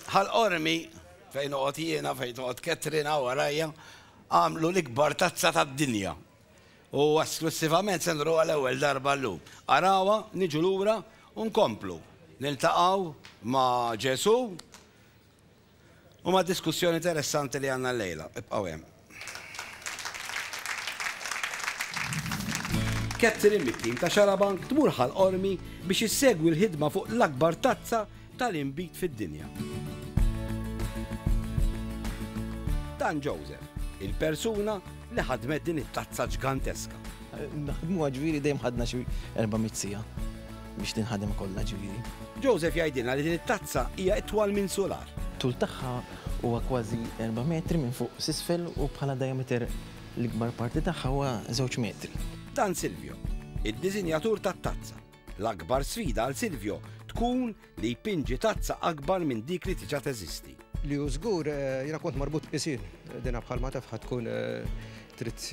Ħal Qormi, fejn noqgħod jiena, fejn toqgħod Catherine hawn warajja, għamlu l-ikbar tazza tad-dinja u esklussivament se nruha l-ewwel darba llum. Arawha, niġu lura u nkomplu niltaqgħu ma' Ġesù u mad-diskussjoni interessanti li għandna llejla. Ibqgħu hemm. Catherine mit-tim ta' Xarabank tmur Ħal Qormi biex issegwi l-ħidma fuq l-akbar tazza tal-inbid fid-dinja. Dan Joseph, il-persuna li ħadmet din it-tazza ġganteska. Naħdmuha ġifieri dejjem ħadna xi 400 siegħa. biex tinħadem kollha ġifieri. Joseph jgħidilna li din it-tazza hija itwal minn sular. Tul tagħha huwa kważi erba' metri minn fuq s'isfel u bħala diameter l-ikbar parti tagħha huwa żewġ metri. Dan Silvio, id-diżinjatur tat-tazza. L-akbar sfida għal Silvio tkun li jpinġi tazza akbar minn dik li tiġa teżisti. Li hu żgur eh, jiena kont marbut pisin dina bħalma taf tkun eh, trid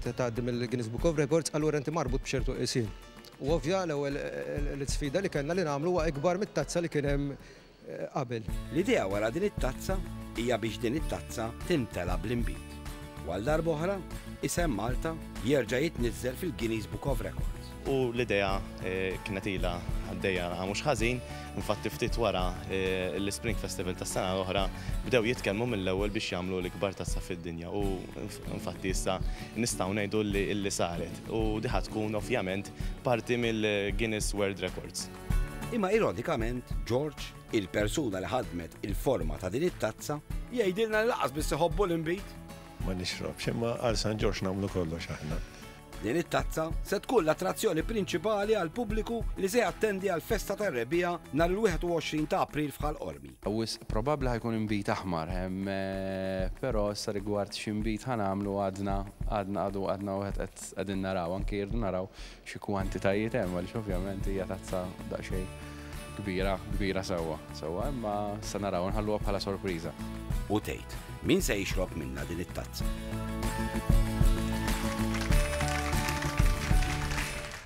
tgħaddi mill-Guinness Book of Records, allura inti marbut b'ċertu qisin. U ovvja, l-ewwel l-isfida li kellna li nagħmlu huwa ikbar mit-tazza li kien hemm qabel. L-idea wara din it-tazza hija biex din it-tazza timtela bl-inbid u għal darba oħra isem Malta jerġa' jitniżżel fil-Guinness Book of Records. U l-idea kienet ilha għaddejja għal mhux ħażin, infatti ftit wara l-Ispring Festival tas-sena l-oħra bdew jitkellmu mill-ewwel biex jagħmlu l-ikbar tazza fid-dinja u infatti issa nistgħu ngħidu li saret. u di ħa tkun ovvjament parti mill-Guinness World Records. Imma ironikament, George, il-persuna li ħadmet il-forma ta' din it-tazza, jgħidilna li laqas biss iħobbu l-inbid. Ma nixrobx, imma għal San George nagħmlu kollox aħna. Din it-tazza se tkun l-attrazzjoni prinċipali għal pubbliku li se jattendi għal festa tar-rebbija nhar il-21 ta' April f'Ħal Qormi. Wisq probabbli ħa jkun inbid aħmar, però issa rigward x'inbid ħa nagħmlu għadna għadna għadu għadna wieħed qed qegħdin naraw, anki rridu naraw xi kwantitajiet hemm għaliex ovvjament hija tazza daqsxejn kbira kbira sewwa sewwa imma se naraw nħalluha bħala sorpriża. U tgħid, min se jixrob minnha din it-tazza?